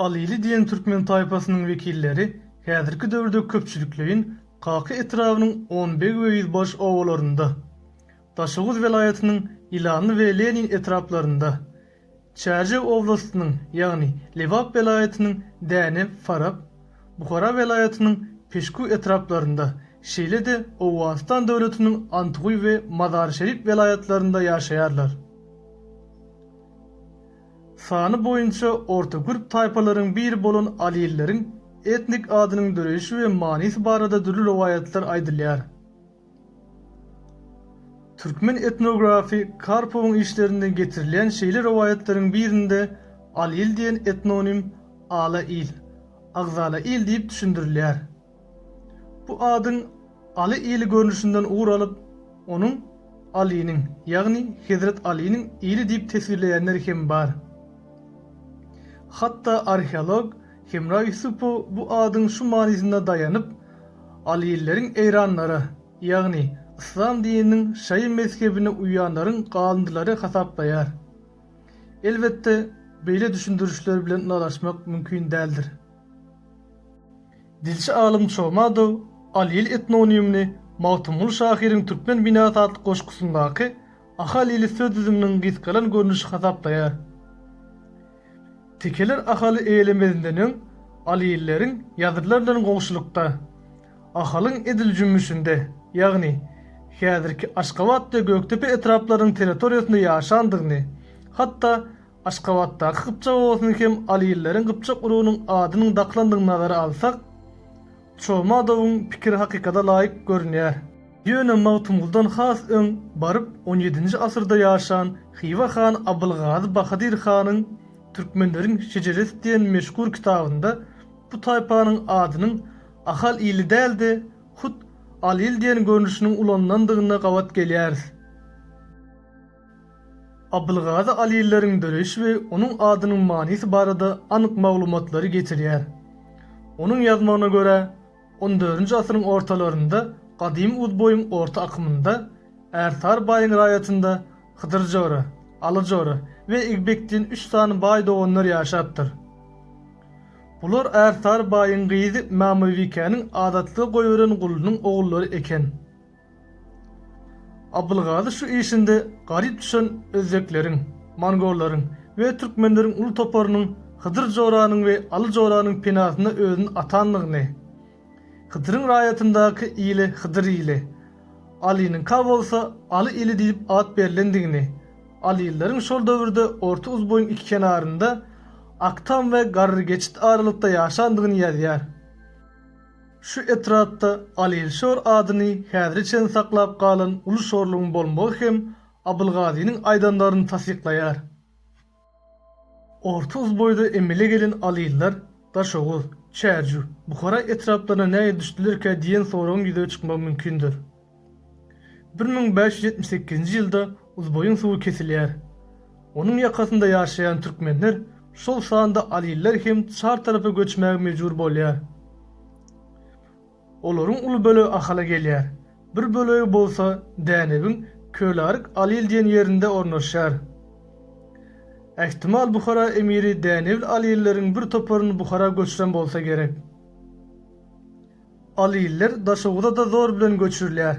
Alyly diýen türkmen taýpasynyň wekilleri häzirki döwürde köpçülikleýin Kaka etrabynyň Onbeg we Ýüzbaş obalarynda, Daşoguz welaýatynyň Ýylanly we Lenin etraplarynda, Çärjew oblastynyň, ýagny Lebap welaýatynyň Dänew, Farap, Buhara welaýatynyň Peşku etraplarynda, şeýle-de Owganystan döwletiniň Antguý we Mazar-Şerif welaýatlarynda ýaşaýarlar. Sany boýunça orta gürp taýpalaryň biri bolan alilileriň etnik adynyň döreýşi we manysy barada dürli rowaýatlar aýdylýar. Türkmen etnografy Karpowyň işlerinde getirilýän şeýle rowaýatlaryň birinde Alil diýen etnonim Ala il, Agzala il diýip düşündirilýär. Bu adyň Aly ili görnüşinden ugur alyp, onuň Alynyň, ýagny Hezret Alynyň ili diýip teswirleýänler hem bar. Hatda arheolog Hemra Ýusupow bu adyň şu manysyna daýanyp, Alilileriň eýranlara, ýagny yslam dininiň şaýy mezhebine uýýanlaryň galyndylary hasaplaýar. Elbetde, beýle düşündirişler bilen ylalaşmak mümkin däldir. Dilçi alym Çomadow Alil etnonimini Magtymguly şahyryň Türkmen binasy atly goşgusyndaky Ahalili söz düzüminiň gysgalan görnüşi hasaplaýar. Tekeler Ahaly eýelemezinden öň Alilileriň ýazylylar bilen goňşulykda, Ahalyň edil jümmüşinde, ýagny häzirki Aşgabat we Gökdepe etraplarynyň territoriýasynda ýaşandygyny, hatda Aşgabatdaky gypjak obasyny hem Alilileriň gypjak urugynyň adynyň dakylandygyny nazara alsak, Çomadowyň pikiri hakykata laýyk görünýär. Ýöne Magtymguldan has öň baryp on ýedinji asyrda ýaşan Hywa hany Abylgazy Bahadyr hanyň Türkmenleriň şejeresi diýen meşhur kitabynda bu taýpanyň adynyň Ahal ili däl-de, hut Al-il diýen görnüşiniň ulanylandygyna gabat gelýäris. Abylgazy Al-illeriň döreýşi we onuň adynyň manysy barada anyk maglumatlary getirýär. Onuň ýazmagyna görä, On dördünji asyryň ortalarynda gadymy Uzboýuň orta akymynda Ärsar baýyň raýatynda Hydyr jora, Aly jora we Igbek diýen üç sany baý doganlar ýaşapdyr. Bular Ärsar baýyň gyzy Mämybikeniň adatlyga goýberen gulunyň ogullary eken. Abylgazy şu işinde garyp düşen özbekleriň, mongollaryň we türkmenleriň uly toparynyň Hydyr joranyň we Aly joranyň penasyna özüni atandygyny, Hydyryň raýatyndaky ile Hydyr ili, Alynyňka bolsa Aly ili diýlip at berlendigini, alylylaryň şol döwürde Orta Uzboýuň iki kenarynda, Aktam we Garrygeçit aralykda ýaşandygyny ýazýar. Şu etrapda Alilşor adyny häzire çenli saklap galan uly şorlugyň bolmagy hem Abylgazynyň aýdanlaryny tassyklaýar. Orta Uzboýda emele gelen Alillar Daşoguz, Çärju, Buhara etraplaryna nähili düşdülerkä diýen soragyň ýüze çykmagy mümkindir. Bir müň bäş ýüz ýetmiş sekizinji ýylda Uzboýuň suwy kesilýär. Onuň ýakasynda ýaşaýan türkmenler, şol sanda aliller hem çar tarapa göçmäge mejbur bolýar. Olaryň uly bölegi Ahala gelýär. Bir bölegi bolsa Dänewiň Kölaryk-Alil diýen ýerinde ornaşýar. Ähtimal Buhara emiri dänewli alilleriň bir toparyny Buhara göçüren bolsa gerek. Al iller Daşoguza-da zor bilen göçürilýär.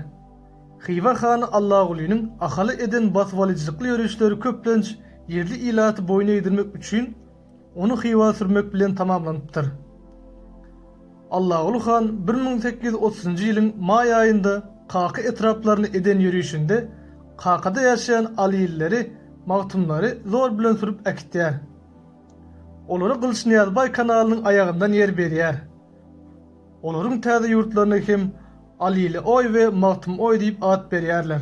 Hywa hany Allagulynyň Ahala eden basybalyjylykly ýörişleri köplenç ýerli ilaty boýun egdirmek üçin ony Hywa sürmek bilen tamamlanypdyr. Allaguly han bir müň sekiz ýüz otuzynjy ýylyň maý aýynda Kaka etraplaryna eden ýörişinde Kakada ýaşaýan Al illeri, magtumlary zor bilen sürüp äkitýär. Olara Gylyçnyýazbaý kanalynyň aýagyndan ýer berýär. Olaryň täze ýurtlaryna hem Alilioý we Magtymgoý diýip at berýärler.